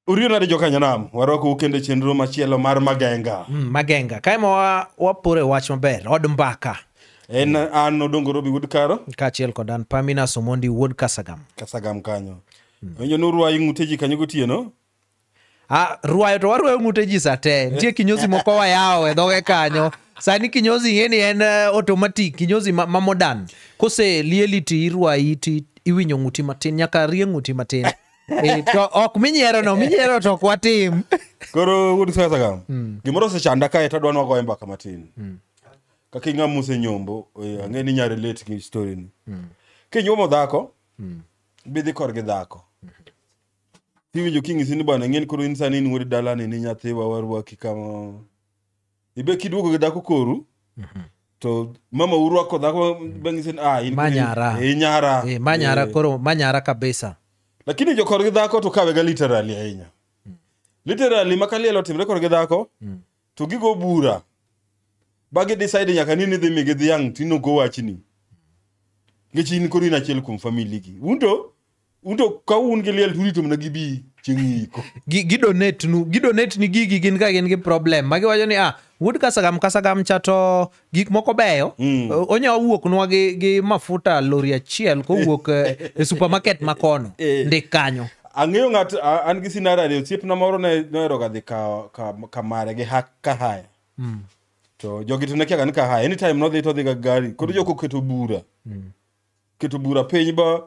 Uriyo nade jokanyanam, warwakou kendo e chenro machielo mar Magenga. Mm, Magenga. Kae ma wa- waporo e wach maber, od mbaka. En an Odongo Robi Wuod Karo, Kaachiel kod an Pamina Somondi wuod Kasagam. Kasagam kanyo. Winjo ni urwayi ng'ute ji kanyo gotieno, Ah, rwayo to warwayo ng'ute ji sa te nitie kinyozi moko wayawo e dhoge kanyo sani kinyozi ing'eni en eh, automatic kinyozi ma, ma modern kose lieli ti irwayi ti iwinyo ng'uti matin nyaka rie ng'uti matin e, to ok minyiero no minyiero to ok watim koro wuod sasa ka gimoro osechanda kae to adwa nwagoye mbaka matin kaka ing'a muse nyombo eh, ang'e ni nyare late gi story ni kinyuomo dhako bidhi korgi dhako Iwinjo king'isi ni bana ng'eni koro in sani in wuod dalani ni nyathiwa warwaki kama. Ibe kiduogo gi dhako koru. To mama urwako dhako bang'isi ni ah in Ma nyara. Eh, nyara. Eh, ma nyara Eh. koro ma nyara kabisa lakini jokor gi dhako to kawega literally ahinya literally ma kaliel otimre kor gi dhako to gigo bura ba gi decide nyaka ni nidhi migi dhiang' tinogo wachni nikech in koro in achiel kuom famili gi un to un to ka un gi liel turito mana gibi chieng' iko Gi- gidonate nu gidonate ni gigi gin ka gin gi problem ma giwacho ni ah wuod kasagam kasagam cha to gik moko beyo mm. onya owuok nwa gi, gi mafuta lori achiel kowuok eh, e supermarket ma kono eh. ndik kanyo ang'eyo ng'at an gi sinara ni osiepna moro noheroga dhi kamare gi ka haya mm. to jogi to nekiaga ni ka haya anytime nodhi to odhiga gari koro mm. jokoketo bura mm. keto bura piny ba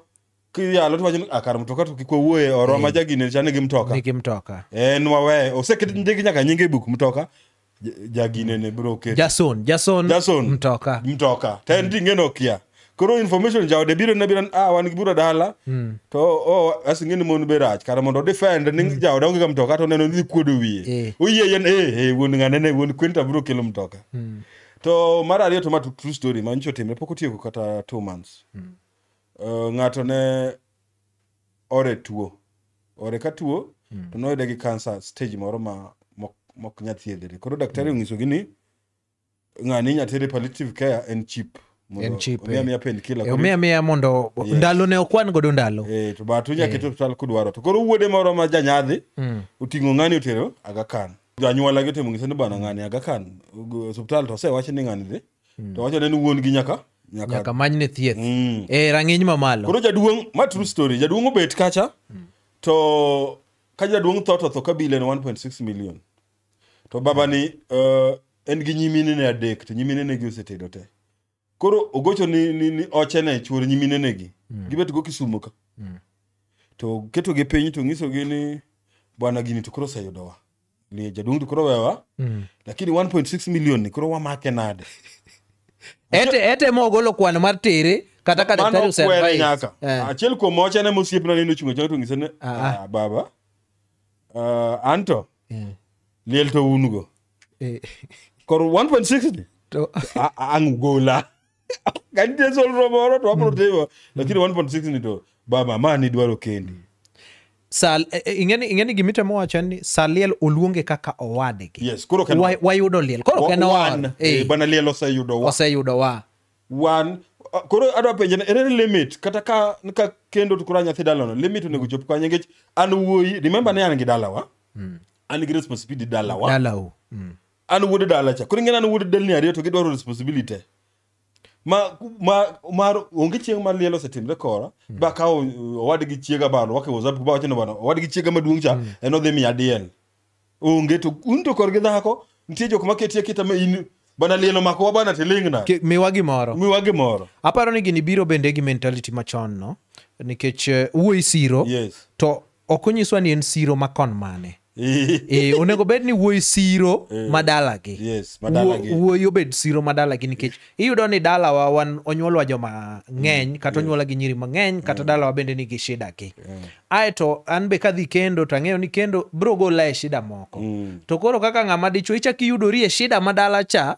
kiyalo to wacho ni akar mtoka to kik wawuoye oro ma jagine chane gi mtoka nigi mtoka en wawe oseket ndigi nyaka nyinge buk mtoka ja- jagine ne bro keto jason jason Jason. mtoka mtoka to en ting'eno kia koro information jaode biro ne biro ah wan gi bura dala to oh, asing'e ni mon be rach kara mondo defend ni jaode onge ga mtoka to neno ni kuodo Eh. wiye oyie yen eh eh wuon ng'ane ne wuon kwenta biro kelo mtoka to mar ariyo to ma tru- true story manyicho timre pok otieko kata two months uh, ng'ato ne ore tuo ore ka tuo to noyude gi kansa stage moro ma mok- mok nya thiedhre koro daktari onyisogi ni ng'ani inya tere palliative care en chip En cheap, eh. omiya pen kila omiya miya mondo Yes. ndalo ne okwan godo ndalo Eh, to but unya keto hospital kudwaro to koro wuode moro ma janyadhi oting'o ng'ani otero agakan janyuola gi timo ngise ni bana ng'ani aga kan go- osiptal to osewache ni ng'ani dhi to wacho ne ni wuon gi nyaka nyaka nyaka manyne thieth Mm. e rang'iny mamalo koro jaduong' ma true story jaduong' obet kacha to ka jaduong' tho to tho kabila en 1.6 million to babani uh, en gi nyimine ne adek to nyimine ne gi osetedo te koro ogocho ni, ni, ni oche ne chuor nyimine negi mm. gibet go kisumo ka mm. to keto gi piny to ngiso gi ni bwana gini to koro oseyudo wa ni jaduong to koro wewa mm. lakini 1.6 million ni koro wamake nade ete ete mo golo kwan mar tere kata ka daktari oseadvise nyaka eh. achiel kuom oche ne mosiep na nino chungo chaka to ngiso ne ah, ah. ah baba uh, anto yeah. liel to un go Eh. kor 1.6 ni To- A- a- angugola kanite solro moro to wabro timo lakini 1.6 ni to ba mama ni dwaro kendi Sal- eh, eh, ing'eni ing'eni gimitemo wacho en ni saliel oluonge kaka owadgi yes koro kan Wa- wayudo liel koro Wa- en one. owa Eh, bana liel oseyudo wa oseyudo wa one Ah, koro adwa penje ni, ere limit kata ka ka kendo to koro a nyathi dalano limit onego chop kanye nikech an wuoyi remember ni an gi dalawa an gi responsibility dalawa dalau mm. an wuod dala cha koro ing'eni an wuod delni ariyo to gidwaro responsibility ma ma mar onge chieng' ma liel osetimre kora mm. ba kawo uh, owadgi chiega ba rwake whatsapp ba wachno bana owadgi chiega maduong' cha mm. en odhi miya diel onge to un to korgi dhako nitie jok ma ketie kita ma in bana liel omakowa bana tiling'na miwa gimoro miwa gimoro aparo ni gini biro bende gi mentality machon no nikech uh, wuoyi siro yes. to ok onyiswa ni en siro ma kon mane e, onego bed ni wuoyi siro eh. madalagi yes, madalagi wuoyi obed siro madalagi nikech iyudo ni dalawa wan onyuolwa joma ng'eny mm, kata onyuola gi nyiri mang'eny kata mm. dalawa bende nigi shida gi mm. aeto an be kadhi kendo to ang'eyo ni kendo biro gola e shida moko to koro kaka ng'ama dichwo ichak iyudori e shida madala cha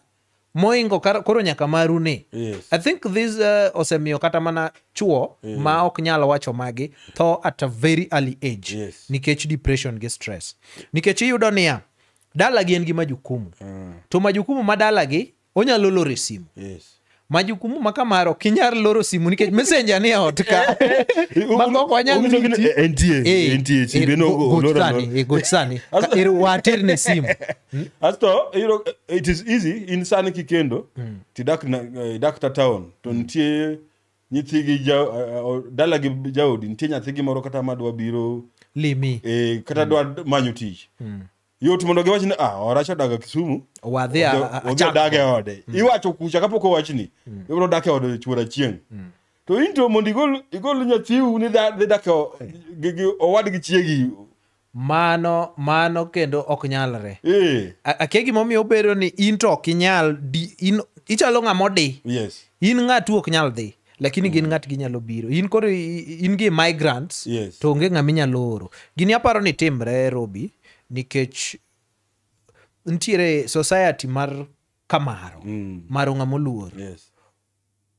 moingo kar- koro nyaka maru ni Yes. i think this uh, osemiyo kata mana chuo Yeah. ma ok nyal wacho magi tho at a very early age Yes. nikech depression gi stress nikech iyudo niya dalagi en gi majukumu Mm. to majukumu ma dalagi onyalo loro e simu Yes. majukumu ma kamaro ok inyal loro simu nikech messenger ni e ot ka mago ok wanyal Ong'iso gini, riti. eh, entie, Eh, entie, eh, chimbe no go- go- gochsani, lorano. eh, gochsani. Ka- er- waterne simu asto iyudo eh, it is easy in sani kikendo tidak na- eh, idak ta town to nitie nyithi gi ja- eh, o- dala gi jaodi nitie nyathi gi moro kata madwa biro limi eh, kata dwa manyo tich yot mondo giwach ni ah oracha odaga kisumu wadhi a- a- odhi achako." odag e ode iwacho kucha kapok owachni ibiro dak e ode chuor achieng to into mondo igol igol nyathiu ni dha- dhi dak e o- gi- gi- owad gi chiegi Mano, mano kendo ok nyalre. Eh. A- Akia gimomiyo obedo ni in to ok inyal, di- in, ichalo ng'ama odi. Yes. In ng'atu ok nyal dhi, lakini gin ng'at ginyalo biro. In koro i- i- in gi migrants, Yes. to onge ng'ama inyalo oro. Gini aparo ni timre Robi, nikech nitiere society mar kamaro, maro ng'ama oluor. Yes.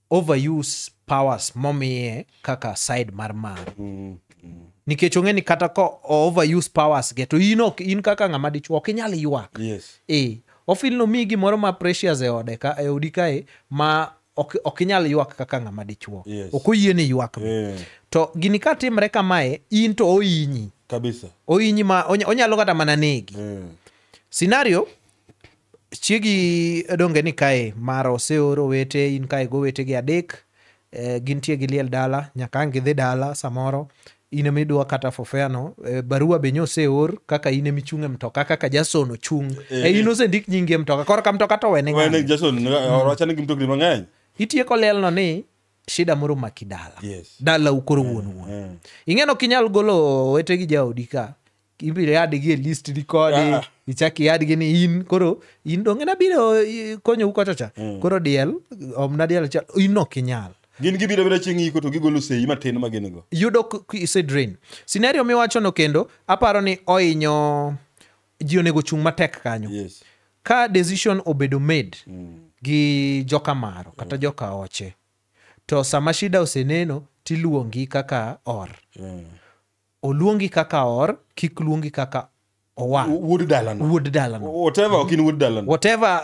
overuse powers momiye kaka side mar mare mm, mm. nikech ong'e ni kata ka overuse powers ge to in ok in kaka ng'ama dichuo ok inyal ywak yes. e ofil nomiyi gimoro ma precious e ode ka e odi kae ma ok, ok inyal ywak kaka ng'ama dichuo yes. ok oyie ni ywak yeah. to gini ka timre kamae in to oinyi kabisa oinyi ma onyalo kata mana negi yeah. scenario Chiegi donge ni kae mara oseoro owete in kae go owete gi adek eh, gintie gi liel dala nyaka ang' gidhi dala samoro in ema idwa kata fofeano eh, barua be nyoseor kaka in ema ichung' e mtoka kaka Jason ochung' eh, in osendik nyingi e mtoka koro ka mtoka to wene Wene ng'ani Jason orwachane gi mtokni mang'eny. itieko lielno ni shida moro maki dala Yes. dala ukoro wuon wuon Eh. ing'eno kinyal golo owete gi jaodi ka ibiro yadgi e list record Ah. ichak iyadgi ni in koro in donge nabiro i- konyou kocha cha koro diel omna diel achiel in ok inyal gin gibiro biro chieng' iko to gigolo sei matin ma gin go yudo k- k- ise drain scenario miwachono kendo aparo ni ohinyo ji onego chung' matek kanyo yes ka decision obedo made gi joka maro kata joka oche to sama shida oseneno tiluongi kaka or yeah. oluongi kaka or kik luongi kaka owang wuod dalano wuod dalano whatever ok in wuod dalano whatever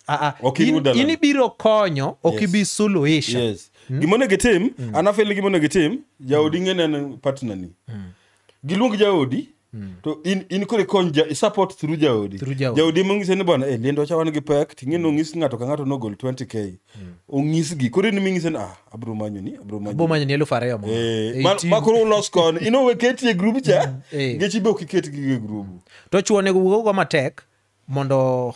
uh, uh, Ok in in, wuod dalano. in ibiro konyo ok Yes. ibi suluhisha yes gima onego itim an afeli gima onego itim jaodi ng'e neno partnerni giluong jaodi to in, in koro ikony ja, support through jaodi Through jaodi. jaodi mong'ise ni bwana eh, liendo cha wan gi pek ting'e nong'is ng'ato ka ng'ato nogol 20k ong'isgi koro in ming'ise ni ah abro manyo ni abro manyo bo manyo ni elfu ariyo mo Eh, ma- ma koro ulos kon ino we ketie group cha eh. ngechi be okiket gi e group to chuo onego wuog go matek mondo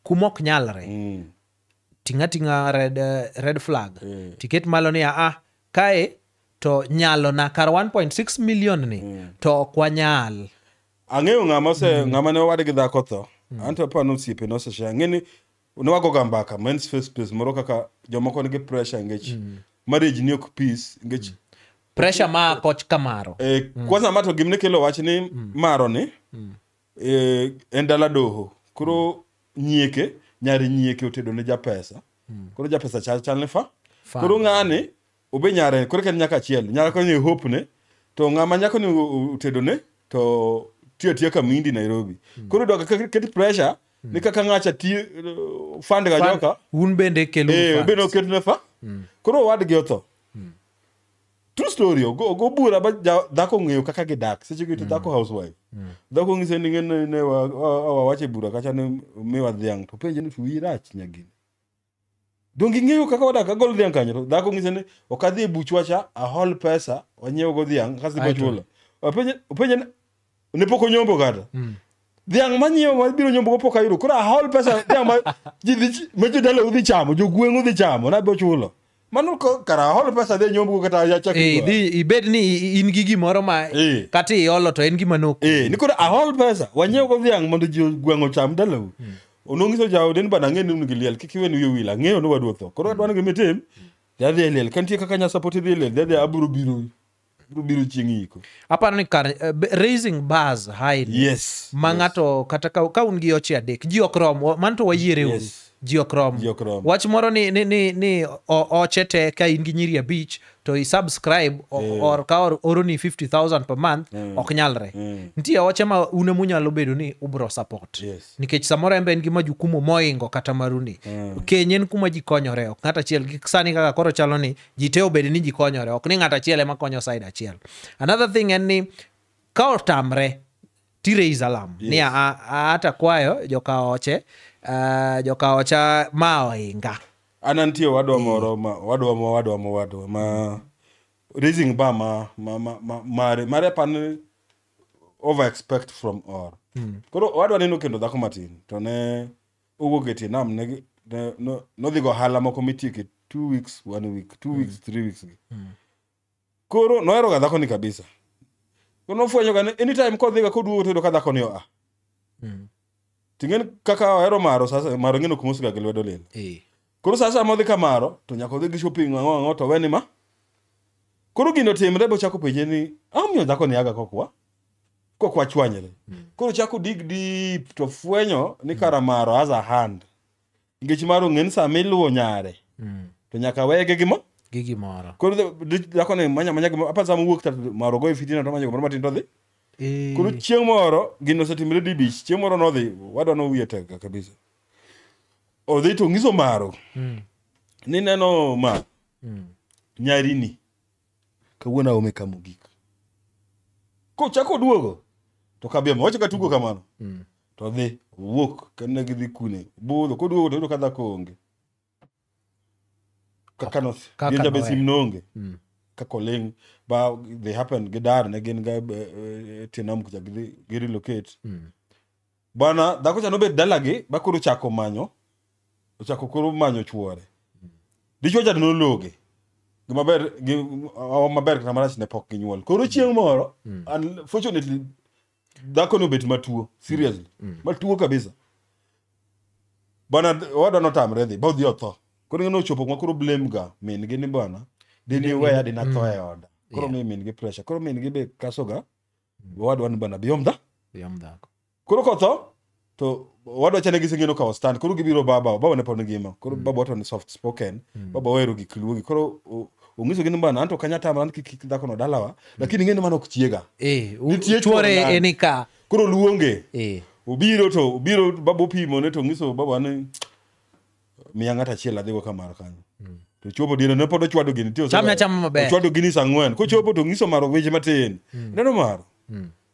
kuma ok nyalre Mm. tinga tinga red, eh, red flag Eh. tiket malo ni aa kae to nyalo na kar 1.6 million ni to ok wanyal ang'eyo ng'ama ose ng'ama ne owade gi dhako tho anto aparo ni osiepe nosesha ang'e ni ne wagoga mbaka men's face space moro kaka jomoko nigi pressure ngech mm. marriage ni ok peace ngech mm. pressure ma koch kamaro e, mm. kwanza mato gimne kelo wach ni mm. maro ni mm. e, en dala doho koro mm. nyieke nyari nyieke otedo ne japesa mm. koro japesa chal chal ne fa, fa. koro ng'ani obe nyare koro ken nyaka achiel nyaka koro ni hope ne to ng'ama nyako ni otedo ne to tiyo tiyo kamindi Nairobi hmm. koro doka ket pressure hmm. ni kaka ng'acha ti uh, fund ga joka un bende kelu eh obe no ketu ne fa hmm. koro wad gi otho true story ogo ogo bura ba dhako ng'eyo kaka gidak seche gi to dhako housewife dhako ng'ise ni ng'en ne wa wache bura kacha ni miwa dhiang' to penje ni tuwi rach nyagini Donge ing'eyo kaka wadak agol dhiang' kanyo to dhako ng'ise ni ok adhi e buchwa cha ahol pesa wanyiew go dhiang' kasto Aeto. ibochulo. Openje openje ni, ne pok onyombo kata. Mm. Dhiang' manyiewo ma biro nyombo go pok ayudo. Koro ahol pesa dhiang' ma ji dhi ch- ma jodala udhi chamo, jogweng' udhi chamo na bochulo. mano ko- kara holo pesa dhi nyomgo kata yachak Eh, idhi ibed ni i- in gi gimoro ma Eh. kata iolo to en gima nok eh ni koro ahol pesa wanyiew go dhiang' mondo ji gweng' ocham dalau onongiso jaode ni bana ang'e ni un gi liel kik iwe ni wiyo wil ang'eyo ni waduok tho koro adwani gimitim dhi adhi e liel ka nitie kaka nya support idhi e liel dhi adhi abiro biro biro biro chieng' iko aparo ni kar eh, be- raising bars high ni, yes ma yes. ng'ato kata ka, ka un gi oche adek ji ok rom wa- mano to wayiere uru Yes. ji ok rom Ji ok rom. wach moro ni, ni, ni, ni o- oche te ka in gi nyiri abich to i subscribe o- Eh. or ka or- oroni 50000 per month Mm. ok nyalre Mm. nitie oche ma une munyalo bedo ni ubro support Yes. nikech samoro en be en gi majukumu moingo kata maruni Mm. keny en kuma ji konyore ok ng'at achiel gi sani kaka koro chalo ni ji te obed ni ji konyore ok ni ng'ato achiel ema konyo side achiel another thing en ni ka otamre ti raise alarm yes. ni hata kwayo joka oche uh, joka ocha ma oinga an antie wadwa moro ma wadwa mo wadwa mo wadwa ma raising bar ma ma ma ma mare mare pan over expect from or mm. koro wadwa neno kendo dhako matin to ne owuok e tie nam ne gi- ne- no- nodhi go ohala moko mitieke two weeks one week two weeks three weeks gi koro noheroga dhakoni kabisa koro nofwenyoga ni anytime kodhiga koduogo toyudo ka dhakoni oa Mm. ting'eni kaka ohero maro sasa maro ng'eno kumosiga gi lwedo lilo Eh. koro saa saa modhi kamaro to nyaka odhi gi shopping ang'o ang'o to weni ma koro gino timre bochako penje ni ang'omiyo dhakoni aga kokwa kok wachwanyre koro chako dig deep to fwenyo ni karamaro has a hand nikech mar ong'e ni sama iluwo nyare Mm. to nyaka wege gimo gi gimoro koro the- the- dhako ni manya manya gimoro apa sama wuok tatu maro goyo fitina to manya gimoro matin to dhi Eh, koro chieng' moro gino osetimre dibich chieng' moro nodhi wadwa nowiye tega kabisa odhi to ng'iso maro mm, ni neno ma mm, nyarini kawuono aome ka mogik kochako duogo to kabiemo wacha ka tugo kamano Mm. to dhi owuok kanne gidhi kune budho koduogo to yudo ka dhako onge kaka no Kaka gin jabe nowe. sim noonge Mm. kaka oling ba they happen gidar ne gin ga eh, eh, tienam kucha gidhi girelocate Mm. bwana dhako cha nobet dalagi ba koro ochako manyo ochako koro manyo chuore dichuo cha nologe gimaber gi- awa maber kata marach ne pok ginyuol koro chieng' moro unfortunately dhako nobet matuo seriously matuo kabisa bwana owadwa notamre dhi ba odhi otho koro ng'e nochopo kuma koro blame ga min gi ni bwana diniweya dinatho e oda koro mi min gi pressure koro min gi be kasoga owadwa ni bana biyom dha Yom dhako. koro kotho to owadwa chane giseng'eno kawo stand koro gibiro baba baba ne pod ngima koro baba wato ni soft spoken baba ohero gik luogi koro o- ong'iso gi ni bana anto kanya tama an kik kik dhakono dalawa lakini ing'e ni mano ok chiega Eh, u- Nitie chuore chuore eni ka. koro luonge Eh. obiro to obiro baba opimo ne to ong'iso baba ni miya ng'ato achiel adhigo ka mar kanyo to chopo diere ne pod ochwado gini tiyo Chame achama maber. ochwado gini saa ang'wen kochopo to ng'iso maro weche matin neno maro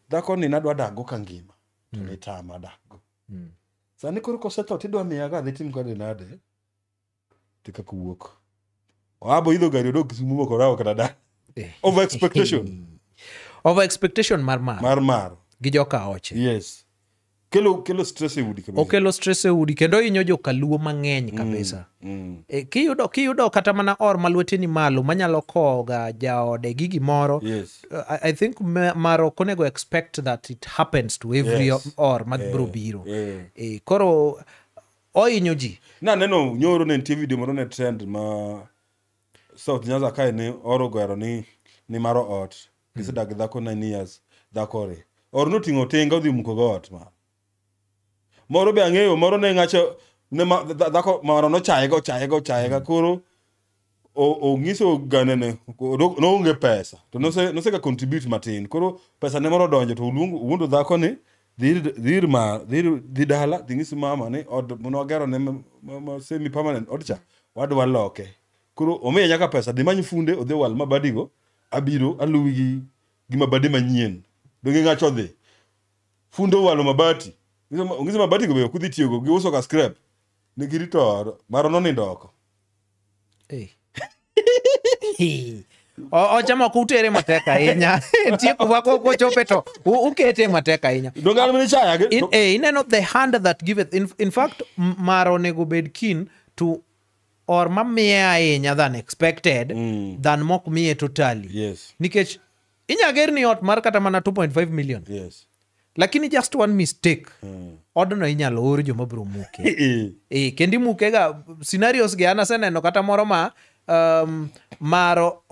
dhako ni nadwa dakgo ka ngima to nitama dakgo sani koro kosetho tidwa miya ka adhi tim kode nade ti kaka wuok oabo idho gari odok kisumu mokorawo kata da Eh. over expectation over expectation mar mar mar mar gi joka oche yes kelo kelo stress e udi kabisa okelo stress e udi kendo hinyo jokaluo mang'eny kabisa mm. e, kiyudo, kiyudo kata mana or ma lweteni malo manyalo kowoga jaode gi gimoro yes Uh, I, I think ma- mar ok onego expect that it happens to every Yes. or ma biro biro yeah. e, koro ohinyo ji naneno nyoro ne nitie video moro ne trend ma south nyanza kae ne oro gwero ni ni maro ot gisedak gi dhako nine years dhakore or noting'o tinga odhi muko go ot ma moro be ang'eyo moro ne ng'acho ne ma- dha- dhako maro nochayega ochayega ochayega koro onyiso gane ne noonge pesa to nose nose ka contribute matin koro pesa ne moro donjo to oluongo wuondo dhako ni dhir ma dhir dhi dala dhinyis mama ni od mondo wagero ne semi permanent od cha wadwa loke koro omiye nyaka pesa dhi many funde odhi wal mabadigo abiro aluwi gi gi mabadi manyien donge ng'acho dhi funde owalo mabati ong'iso mabatigo be ok udhi tiyogo giuso ka scrap ne girito maro nonindo oko Hi. O- ocha moko utere matek ahinya nitie kuma ko- kochope to u- ukete matek ahinya Dogal mene chaya ge. In- eh, ineno the hand that giveth in, in fact m- mar onego bed kin to or mamiye ahinya than expected than mok miye totally Yes. nikech inya ger ni ot mar kata mana 2.5 million yes lakini just one mistake mm. odno inyalo or joma biro muke Eh, e, kendo imukega scenarios gi an aseneno kata moro ma um, maro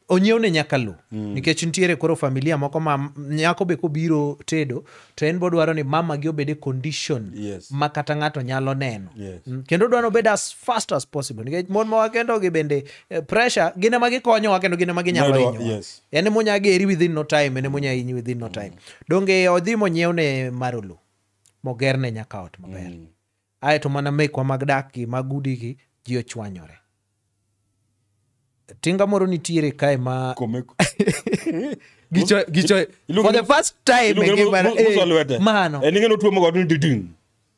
onyiewne nyaka lo mm. nikech nitiere koro familia moko ma nyako be kobiro tedo to en bodwaro ni mamagi obed e condition Yes. ma kata ng'ato nyalo neno Yes. Mm, kendo odwa nobed as fast as possible nikech mon ma wakendogi bende eh, pressure gin ema gikonyowa kendo gin ema ginyalo Medo- hinyowa yes. en ema onya geri within no time en ema onya hinyi within no time donge odhi monyiew ne marolo mogerne nyaka ot maber ae to mana mekwa mag dakgi mag udigi ji ochwanyore tinga moro nitiere kae ma Komeko. gicho gicho Iluongo for the ni- first time Iluongo e ni ngimana, mu- mu- muso eh, lwete. mano En ing'e ni otuomo godo ni diding'.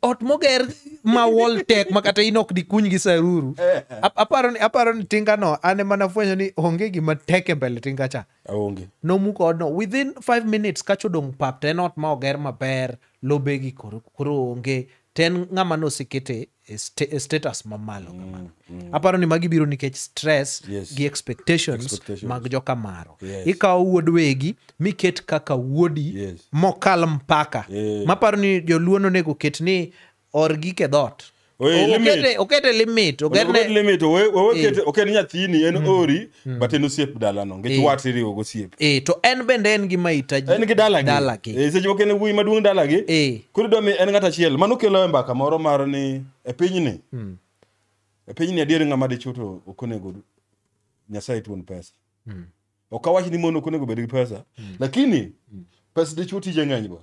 ot moger ma wall tech ma kata in ok dikuny gi saruru Ap- aparo ni aparo ni tinga no an ema nafwenyo ni onge gima tek e mbele tinga cha aonge nomuko odno within 5 minutes kacho dong pap to en ot ma oger maber lobegi koro koro onge to en ng'ama nosekete e sta- e status mamalo kamano aparo ni magi biro nikech stress Yes. gi expectations, Expectations. mag jokamaro Yes. ikawo wuod wegi miket kaka wuodi Yes. mokal mpaka Eh. maparo ni joluo nonego ket ni or gik e dhoot Oye, O- limit. okete- okete limit Onego obed oketne limit, owe- owe Eh. kete- oket nyathini en ori but en osiep dalano nikech Eh. wat iriwo gosiep e to en bende en gi mahitaji en gi dalagi dalagi Eh, seche moko en wuoyi maduong' dalagi Eh. koro idwa mi en ng'at achiel mano kelo e mbaka moro mar ni e pinyni Mm. e pinyni adier ng'ama dichwo to ok onego nyasaye tuon pesa Mm. ok awach ni mon ok onego bed gi pesa lakini pesa dichwo tije ng'eny go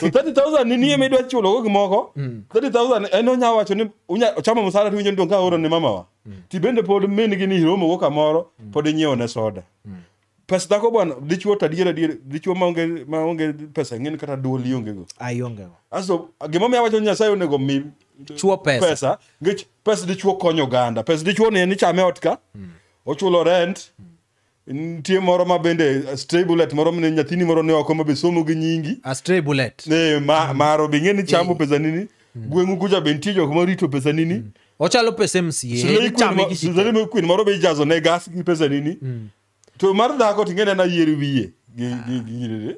so 30000 ni nie midwa chulo go gimoko 30000 en onya wacho ni unya chamo msara tiwinjo ni donka oro ni mamawa ti bende pod min gi ni hiromo go kamoro pod inyiewo ne soda pesa dhako bwana dichuo to adier adier dichuo maonge maonge pesa ng'en kata duol ionge go ayongego aso gimomiyo awacho ni nyasaye onego mi Chuo pesa. pesa ngech pesa dichuo konyo oganda pesa dichuo ni en ichame ot ka ochulo rent nitie moro ma bende stray bullet moro mne nyathini moro ne oko ma be somo gi nyingi a stray bullet ne ma maro be ngeni chamo pesa nini gweng'u kucha be nitie jok ma rito pesa nini ochalo pesa Slay Queen ma- Slay mca Queen moro be ijazo ne gas gi pesa nini to mar dhako tingene na yier wiye gi gi gi- gi-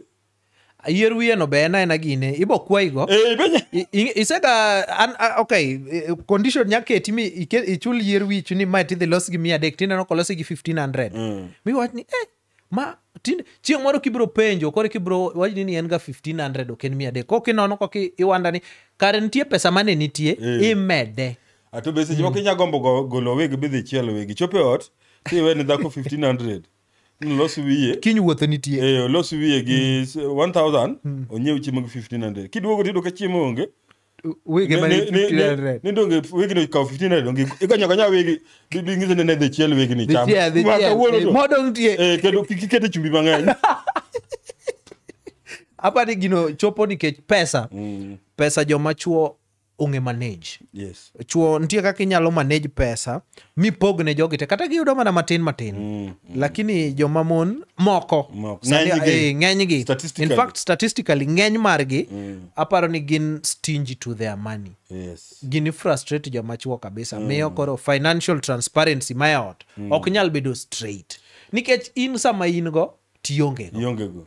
ayier wiye no be en aena gine ibo kwayigo Eh, be- I- i- isega an a- okay eh, condition nya keti mi ike- ichul yier wichu ni mae tidhi los gi mia adek tineno kolose gi 1500 miwach ni eh, ma tin chieng' moro kibiro penjo koro kibiro wachni ni en ga 1500 ok en mia adek kok inono kok i- iwanda ni kare nitie pesa mane nitie imede ato be seche moko inya gombo go- golo wig bidhi chielo wigi chopo e ot tiwe ni dhako 1500 Los wiye. Kiny wuothe nitie. Eh, los wiye gi 1000, hmm. onyiew chiemo gi 1500. Kiduogo tido ka chiemo onge. Wege mani 1500. Ni donge wege ni kaw 1500 donge igonyo gonya wege dingize ne ne dhi chiel wege ni cham. Ma kawuono to. Modong nitie. Eh, kendo kikete chumbi mang'eny. Apa ni gino chopo nikech pesa. Mm. Pesa joma chuo ong'e manage yes chuo nitie kaka inyalo manage pesa mipog ne jogi te kata giyudo mana matin matin mm, mm. lakini joma mon moko eh, ng'enygi in fact statistically ng'eny margi mm. aparo ni gin stingy to their money yes. gini frustrate joma chuo kabisa mm. miyo koro financial transparency mayaot mm. ok nyal bedo straight nikech in sama in go tiongego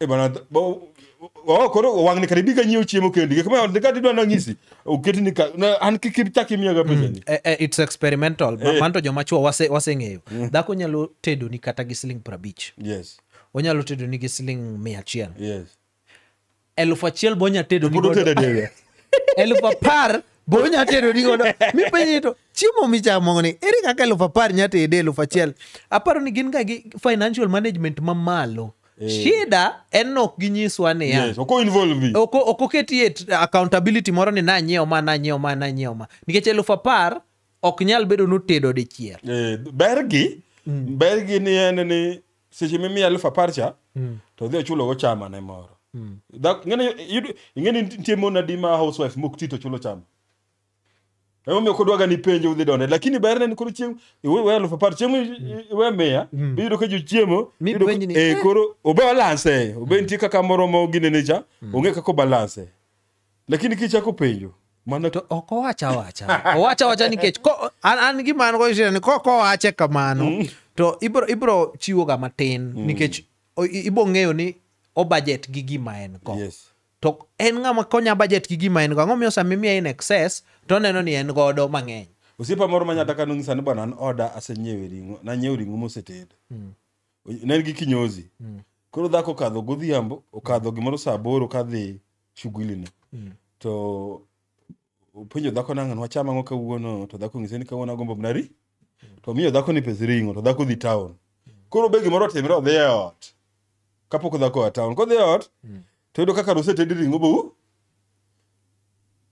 Eh, bana, th- bo- oh, koro wang'ni kare bi ka nyiewo chiemo kendi gik ma kati dwa nang'isi oketi ni ka na- an kik ichak imiyaga pesani Eh, eh, it's experimental Ma- manto joma chuo wase- waseng'eyo dhako nyalo tedoni kata gi siling prabich yes onyalo tedoni gi siling mia achiel yes elufu achiel bo nya tedo Pod otedo diriyo. elufu apar bo nya tedo ni godo mipenje to chiemo michamo ni ere kaka elufu apar nya tede elufu achiel aparo ni gin ga gi financial management mamalo shida en ni ok ginyiswa niya Yes, oko involve. ok ok oketi e t- accountability moro ni nanyiewo ma nanyiewo ma nanyiewo ma nikech elufu apar ok nyal bedo notedo dichiel Eh, bergi bergi ni en ni seche mimiya elfu apar cha Mm. to dhi ochulogo chama ne moro Mm. Dhak- ing'eni yudo- ing'eni nitie mon adi ma housewife mok ti to chulo chama emomiyo kodwaga ni penjo udhi donde lakini berne ni koro chieng' iwe we elfu apar chieng' i- i- iwe miya Mm. biyudo ka jochiemo Mi iyudo ka- penj ni, eh, eh. koro obalanse obe nitie kaka moromo ginene cha onge kaka obalanse lakini kichako penjo mana to ok owacha awacha owacha awacha nikech ko- an, an gima an go shida ni ko kowache kamano to ibro ibro chiwoga matin nikech o- i- ibo ng'eyo ni o budget gi gima en go yes to en ng'ama konya budget gi gima en go ang'o miyo sama imiye in excess to oneno ni en godo mang'eny osiepa moro ma nyataka nonyisa ni bwana an oda asenyiewe ring'o nanyiewo ring'o moseted ne en gi kinyozi koro dhako okadho godhiambo okadho gimoro saa aboro kadhi shughuli ni Mm. to openjo dhako nang'o ni wacham ang'o kawuono to dhako ng'ise ni kawuono agombo mana ri to miyo dhako ni pes ring'o to dhako dhi town koro be gimoro otimre odhi e ot kapok dhako oa town kodhi e ot Mm. to yudo kaka nosetedi ring'o bou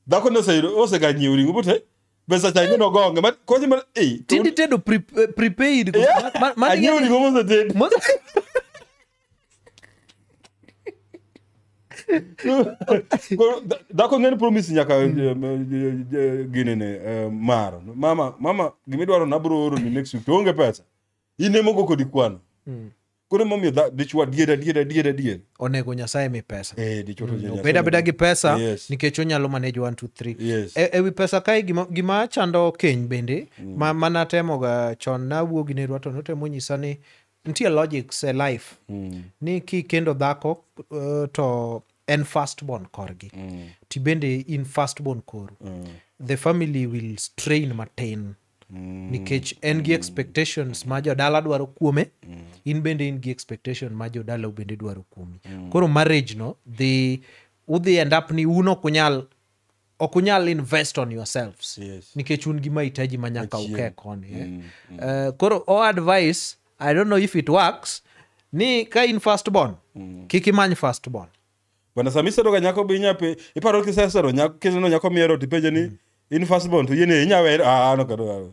dhako ni oseyudo- oseganyiewo ring'o bote be sacha ing'e nogonge ma- konye mana ei to- Tindi tedo pre- eh, prepaid. Yeah. Ma- ma- ma- Anyiewo ring'o mosetedi. Mose- dhako ng'eni promis nyaka eh, eh, eh, ginene mar mama mama gimidwaro nabro oroni next week to onge pesa in emogo kodi kwano hmm. koro emomiyo dichwa dier adier adier adier onego nyasaye mi pesa hmm, obed abeda gi pesa nikech onyalo manage 1 2 3 e, ewi pesa kae gima chando keny bende hmm. ma manatemoga chon nawuo gi nerwa to notemo nyisa ni nitie logics e life mm. ni kikendo dhako uh, to en firstborn korgi mm. ti bende in firstborn koru mm. the family will strain matin mm. nikech en gi expectations ma jodala dwaro kuome mm. in bende in gi expectation ma jodala bende dwaro kuomi mm. koro marriage no dhi udhi end up ni uno kunyal ok unyal invest on yourselves Yes. nikech un gi mahitaji ma nyaka Achien. uke koni eh? Mm, Eh, koro o advice i don't know if it works ni ka in first born kik imany first born bana sama isero ga nyako be inya pe iparo kisesero nyako kiseno nyako miero tipenje ni in first born to yene inya wer ah no kado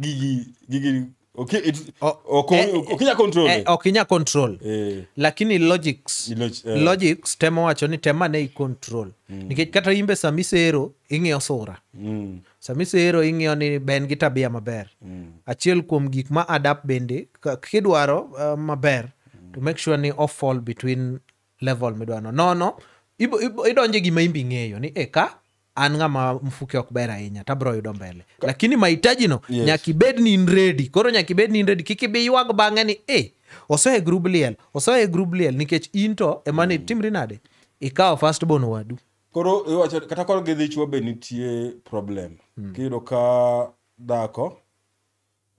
gigi gigi oki it- O- oko- eh, okinya control eh, ok inya control Eh, lakini logics Log- eh. logics temo wacho ni tema ne icontrol nikech kata imbe sama isero ing'iyo sura mm, sama isero ing'iyo ni be en gi tabia maber mm, achiel kuom gik ma adapt bende ka- kidwaro uh, maber to make sure ni off fall between level midwano nono ibo- ibo- idonje gima imbi ng'eyo ni e ka an ng'ama mfuke ok ber ahinya to abiro yudo mbele lakini mahitajino Yes. nyaka ibed ni in ready koro nyaka ibed ni in ready kik ibi ywag bang'e ni e osehe grub liel osehe grub liel nikech in to ema ni timri nade ikawo first born wadu koro iwacho kata koro gi dhichwo be nitie problem kiyudo ka dhako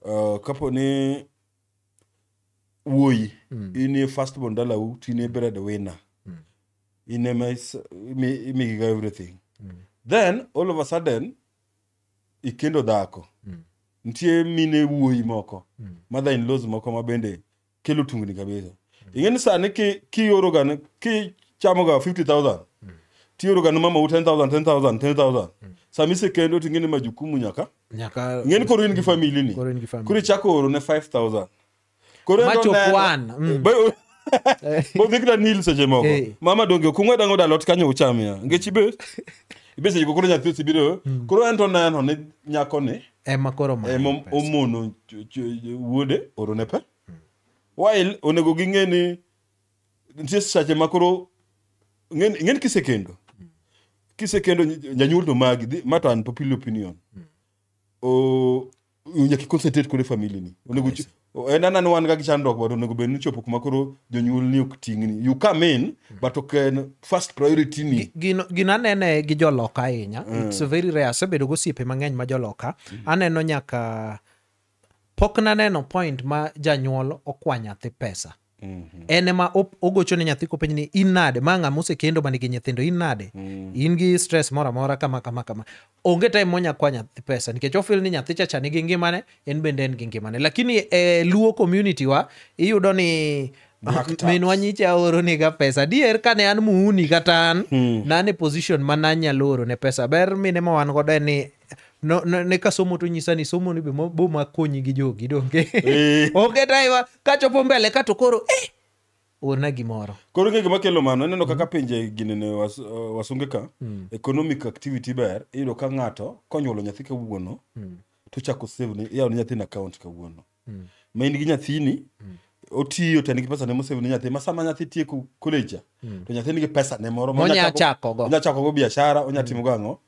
uh, kapo ni wuoyi mm. in e first born dalau to in e bread winner mm. in ema imigiga everything mm. then all of a sudden ikendo dhako mm. nitie mine wuoyi moko mm. mother in laws moko ma bende kelo tungni kabisa mm. ing'eni sani kioroga ki kichamoga 50000 mm. tioroga ni mama u 10000 10000 10000 mm. sami sekendo ting'eni majukumu nyaka mm. Nyaka- ng'eni koro in gi famili ni Koro in gi family. koro ichako oro ne 5000 koro Ma chop one, mm. bodhikna nil seche moko Eh. mama donge okung'we dango dalot kanyo uchamia ngech ibe ibe seche go koro nyathi osibiro koro en to neno ni nyakoni ema koro ma- ema omono ch- ch- wuode orone pe while onego ging'e ni nitie sache ma koro ng'en ng'en kisekendo kisekendo ny- janyuol to magi dhi- ma to an popular opinion o nyaka iconcentrate kode family ni onego chi- o- en anani wan ga gi chandruok but onego bed ni chopo kuma koro jonyuol ni ok ting'ni you come in but ok en first priority ni Gino- gino anene gi joloka ahinya its very rare asebedo gosiepe mang'eny ma joloka aneno nyaka pok naneno point ma janyuol okwa nyathi pesa Mhm. en ema op- ogocho ne nyathi kopenj ni in nade ma ng'ama osekendo ma nigi nyithindo in nade Mm. in gi stress moro amora kama kama kama onge time monya kwa nyathi pesa nikech ofil ni nyathi chacha nigi ngimane en bende en gi ngimane lakini e luo community wa iyudo ni Black tax. minwa nyicha oroniga pesa dier kane an muuni kata an Hmm. nan e position ma nanyalo orone pesa ber mine ma wan godo en ni no, no, ne ka somo to nyisa ni somo ni be mo- bo makonyi gi jogi donge Eh. onge taiwa kachopo mbele kato koro eh, orna gimoro koro ng'e gima kelo mano ineno kaka pinje ginene was, uh, wasunge ka economic activity ber iyudo ka ng'ato konyuolo nyathi kawuono to chako save ne yawo ne nyathini account kawuono ma in gi nyathini otiyo to en gi pesa ne mosave ne nyathi ma sama nyathi tieko college cha, to nyathini gi pesa ne moro ma Monya onyachako- chakogo. onya chakogo biashara onya timogo ang'o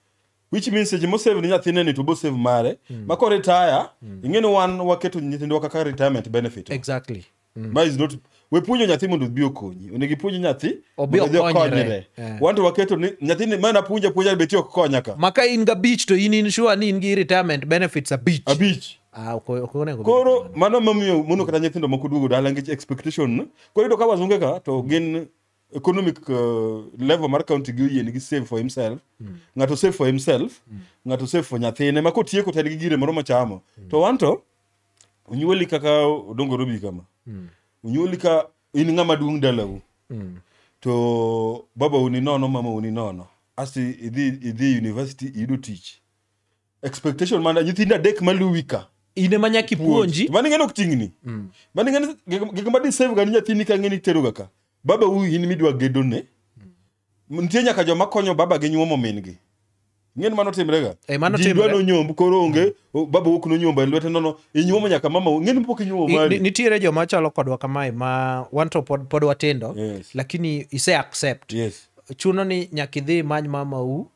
which means seche mosave ni nyathine ni to bosave mare mm. ma koretaya mm. ing'eni wan waketo nyithindwa kaka retirement benefit exactly mm. ma is not we puonjo nyathi mondo obi okonyi onego ipuonj nyathi Obi mondo odhi okonyre. okonyre Eh. wan to waketo ni nyathini ma napuonja puonja beti ok konya ka maka in ga beach to in insure ni in gi retirement benefits a beach abich ah ok ok onego koro mano mamiyo mono kata nyithindo moko duogo dala nikech expectation koro iyudo ka wazunge ka to gin economic uh, level mar county gi oyie nigi save for himself mm. ng'ato save for himself mm. ng'ato save for nyathine ma kotieko to en gi gire moro mochamo mm. to wanto onyuoli kaka odongo robi kama mm. onyuoli ka in ng'ama duong' dalau mm. to baba uni nono mama uni nono asti idhi idhi university iyudo tich expectation mana nyithindo adek maluwi ka in ema nyaka ipuonji mano ing'eno kuting'ni mano ing'eno gik ma disave ga ni nyathini ka ng'eni teroga ka baba u in midwa gedone nitie nyaka joma konyo baba gi nyuomo min-gi ing'eni mano timrega Eh, mano Ji dwa timre. nonyomb koro onge o- baba wuok nonyomba e lwete nono inyuomo nyaka mama u ing'eni pok inyuomo Ni- ni- mari nitiere joma chalo kodwa kamae ma wanto pod, pod watindo Yes. lakini ise accept yes chuno ni nyaka idhi imany mamau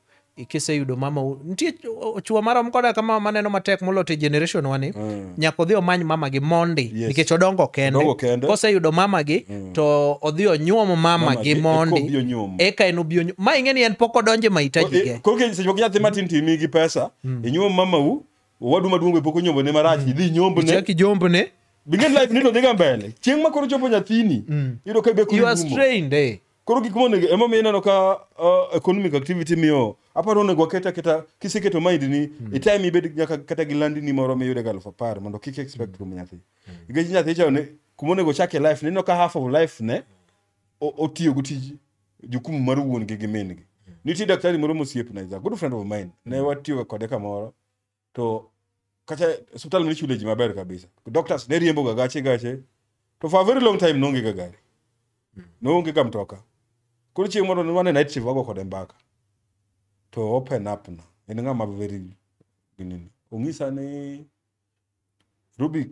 kiseyudo mama u- nitie o- chwo marom koda ka mama maneno matek moloyo te generation wani nyaka odhi omany mama gi mondi Yes. nikech odongo kende Odongo kende. koseyudo mama gi to odhi onyuom mama Mama gi gi, mondi eka obi onyuom. eka en obi onyuom ma ing'e ni en pok odonje mahitaji ge koke seche moko nyathi matin timi gi pesa inyuom mamau owadu maduong' be pok onyombo ne marach idhi inyombo ne chaki jombne bingen life nito dhiga mbele chieng' ma koro chopo nyathini iyudo ka be koro you are irumo. strained eh. Koro gik monego ema miyo ineno ka uh, economic activity miyo aparo onego waket aketa kiseketo mind ni mm. e time ibed nyaka kata gi landi ni moro miyude ga aluf apar mondo kik expect mm. nyathi. Nikech nyathi cha ne kuma onego chak e life neno ka half of life ne otiyo go tiji jukumu mar wuon gi gi min gi. Nitie daktari moro mosiep na is a good friend of mine. Ne watiyo kode kamoro. to kata osiptal mane ichule ji maber kabisa doctors ne riembo ga gache gache to for a very long time noonge ga gari noonge ga mtoka koro chieng' moro wane night shift wago kode mbaka to open up na en ng'ama very ginini ong'isa ni rubi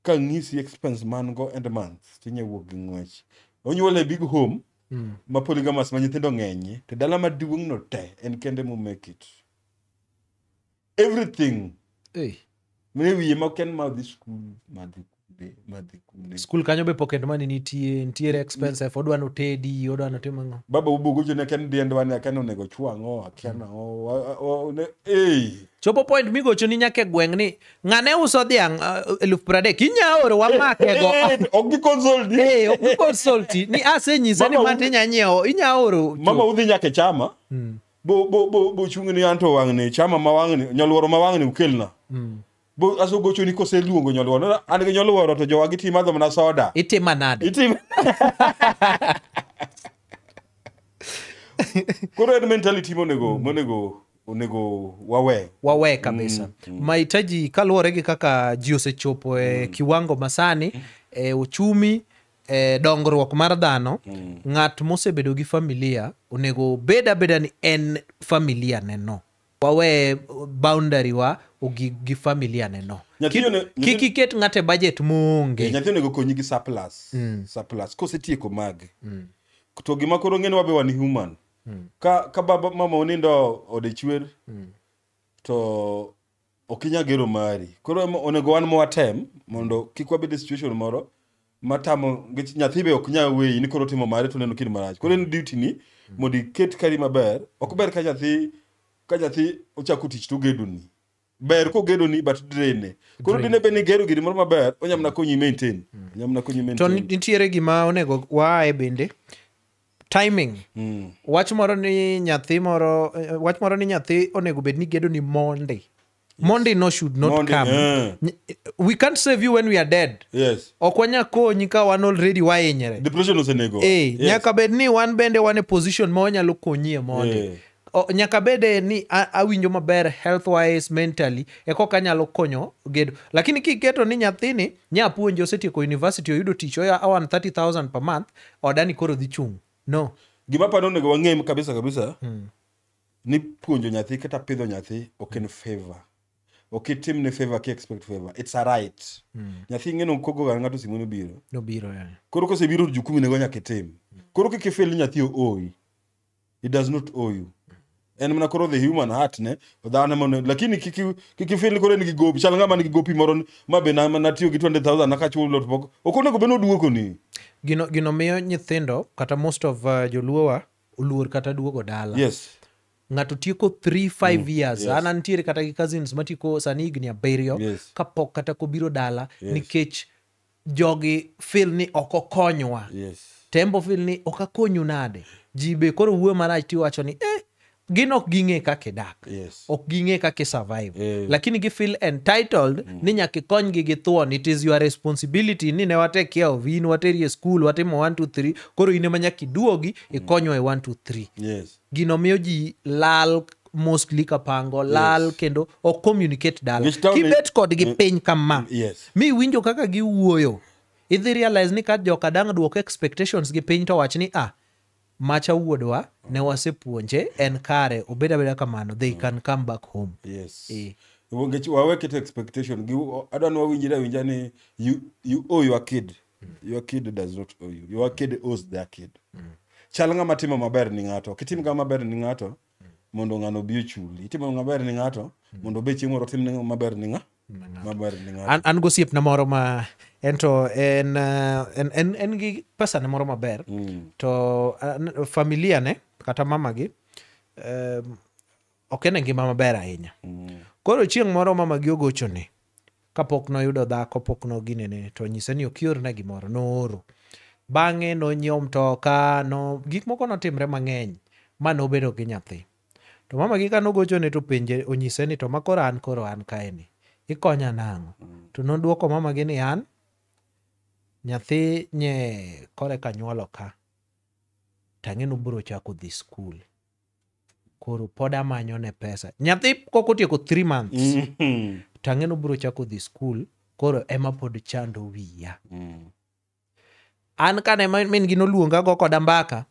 ka ng'isi expense man go end month tinya wuok gi ng'wech onyuol e big home mm. ma polygamous ma nyithindo ng'enyie to dala maduong' no te en kende mo make it everything hey. mine wiye ma ken ma dhi skul ma dhi skul kanyo be pocket money nitie nitiere expense f odwa notedi odwa notim ang'o baba ubugucho ne ken dien dwa ne aken onego chwang'o aken ang'o ei chopo point migocho ni nyaka e gweng' ni ng'ane uso dhiang' uh, eluf pradek inya oro wamakego ok gikonsolti Eh, ok gikonsolti ni asenyisa ni Mama, mati inya nyiewo inya oro mama udhi nyaka e chama bo bo bo bo chung ni anto wang'ni chama ma wang'ni nyoluoro ma wang'ni ukelna bo aso gocho ni koseluongo nyoluoro Na- an gi nyoluoro to jowa giti madho mana soda itima nade itim koro en mentality monego monego onego wawe wawe kabisa mahitaji kaluwore gi kaka ji osechopo e kiwango masani e uchumi e dongruok mar dhano ng'at mosebedo gi familia onego bed abeda ni en familia neno wawe boundary wa ogik gi familia neno Nyathi one- nyathi- kik iket ng'ate budget moonge Eh, nyathi onego konyi gi surplus surplus kosetieko mage to gima koro ng'eni wabe wan human Mm. ka ka baba mama onindo ode chwer Mm. to ok inya gero mari koro ema onego wan mwatem mondo kik wabed e situation moro matamo nikech nyathi be ok nyal weyi ni koro timo mare to neno kid marach koro en duty ni mondo iket kari maber ok ber ka nyathi ka nyathi ochako tich to ogedoni ber kogedo ni but drain ne koro Drain. dine bed ni gero giri moro maber onya mana konyi maintain onya mana konyi to maintain ni- nitiere gima onego waaye bende timing Mm. wach moro ni nyathi moro eh, wach moro ni nyathi onego bed ni gedo ni monday monday no should not Monday, come eh. Ny- we can't save you when we are dead yes ok wanya konyi ka wan already wahinyre depression osenego Eh, Yes. nyaka bed ni wan bende wan e position ma wanyalo konyie mondi Eh. O, nyaka bede ni a- awinjo maber health wise mentally ekoka anyalo konyo gedo lakini kiketo ni nyathini nyapuonje osetieko university oyudo tich oya awan 30000 per month odani koro dhi chung no gima paro onego wang'e kabisa kabisa ni puonjo nyathi kata pidho nyathi ok en favor ok itim ne favor ki expect favor it's a right nyathi ing'eno kogoga ng'ato simu nobiro nobiro yani koro kosebiro to jukumu nego nyaka itim koro kik ifil ni nyathi ooi he does not owe you en mana koro the human heart ne dhano mono lakini kiki kiki feel koro en gi gopi chal ngama nigi gopi moro ni, ma be na na tiyo gi 20000 na ka chulo to pok ok onego be noduoko ni gino, gino miyo nyithindo kata most of uh, joluowa oluor kata duogo dala yes ng'ato tieko 3 5 years yes. an antiere kata gi cousins matieko sani higni abiriyo Yes. kapok kata kobiro dala Yes. nikech jogi fil ni ok okonywa yes. tembo fil ni ok akonyu nade ji be koro wuoyo marach tiwacho ni eh, gin ok ging'e kaka idak yes. ok ging'e kaka isurvive eh. lakini gi feel entitled mm. ni nyaka ikonygi gi thuon it is your responsibility ni ne wate care of in wateri e school watimo 1 2 3 koro in ema nyaka iduogi mm. ikonywa e 1 2 3 yes. gino miyo ji lal mostly kapango lal yes. kendo ok communicate dala kibet kodgi mm. piny kama yes. mi winjo kaka giwuoyo idhi realize ni ka joka dang' duoko expectations gi piny to wach ni ah macha wuodwa ne wasepuonje en kare obed abeda kamano they mm. can come back home yes. e. wawekete expectation adwa ni wawinjire awinja ni you, you owe your kid your kid does not owe you your kid owes their kid chal ng'ama timo maber ni ng'ato kitim ng'ama maber ni ng'ato mondo ng'ano obi ochuli itimo ng'ama maber ni ng'ato mondo obe chieng' moro otim ni ng'ama maber ni ng'a maber ni ng'ato an, an gosiepna moro ma en to en, uh, en, en, en gi pesane moro maber Mm. to uh, n- familia ne kata mamagi um, ok en e ngima maber ahinya Mm. koro chieng' moro mamagi ogochone Kapok noyudo dhako pok noginene to onyise ni ok iorna gimoro, nooro. Bang'e nonyiewo mtoka, no gik moko notimre mang'eny ma nobedo gi nyathi. To mamagi ka nogochone to penje onyise ni to ma koro an koro an kaeni, ikonya nang'o? To nodwoko mamagi ni an nyathi nye koreka nyuolo ka, tang'e nobiro chako dhi skul. koro pod amanyo ne pesa nyathi kok otieko three months Mhm. to ang'e ni obiro chako dhi skul koro ema pod chando wiya Mm. an kane ma- min gi noluonga go koda mbaka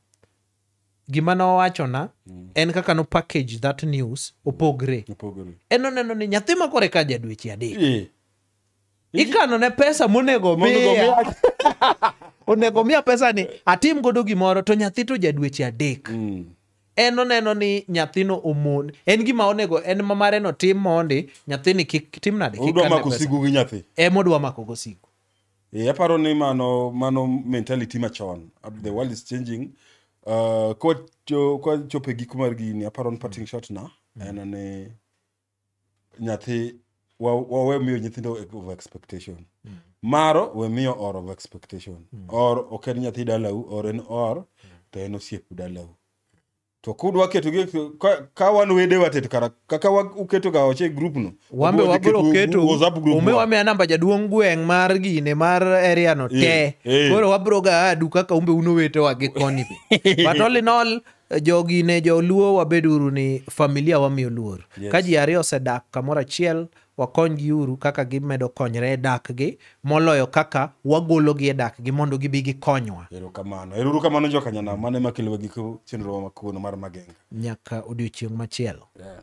gima nowachona Mm. en kaka no package that news opogre Opogore. en oneno ni nyathi makore ka jadweche adek Eh, ikano ne pesa monego Mondo miya omiya- onego miya pesa ni atim godo gimoro to nyathi to jadweche adek Mm. en oneno ni nyathino omon en gima onego en ma mare no tim mondi nyathini kik tim nade kik Udwa kan ne mako pesa. sigu gi nyathi. ema odwa mako go sigu Eh, aparo ni mano mano mentality machon Uh, the world is changing uh, kwa cho- kwa chope gik mar gini aparo ni parting shot na en ni nyathi wa- wa- we miyo nyithindo over expectation maro we miyo or over expectation or ok en nyathi dalau or en or to en osiep dalau to kud waketo gi ka- ka wan wede watet kara kaka wa- uketo ga oche group no wambe Wadhi wabiro group- keto WhatsApp group ume wa. wamiya namba jaduong' gweng' mar gine mar area no te Eh, eh. koro wabiro ga adu kaka umbe uno wetewa gi koni be but all in all jogi ne joluo wabed uru ni familia wamiyo luor yes. ka ji ariyo osedak kamoro achiel wakonygi uru kaka gimedo konyre e dakgi moloyo kaka wagologi e dakgi mondo gibi gikonywa erokamano eruru kamano jokanyana mane makelowa giko chenrowa makono mar magenga nyaka odiochieng' machielo yeah.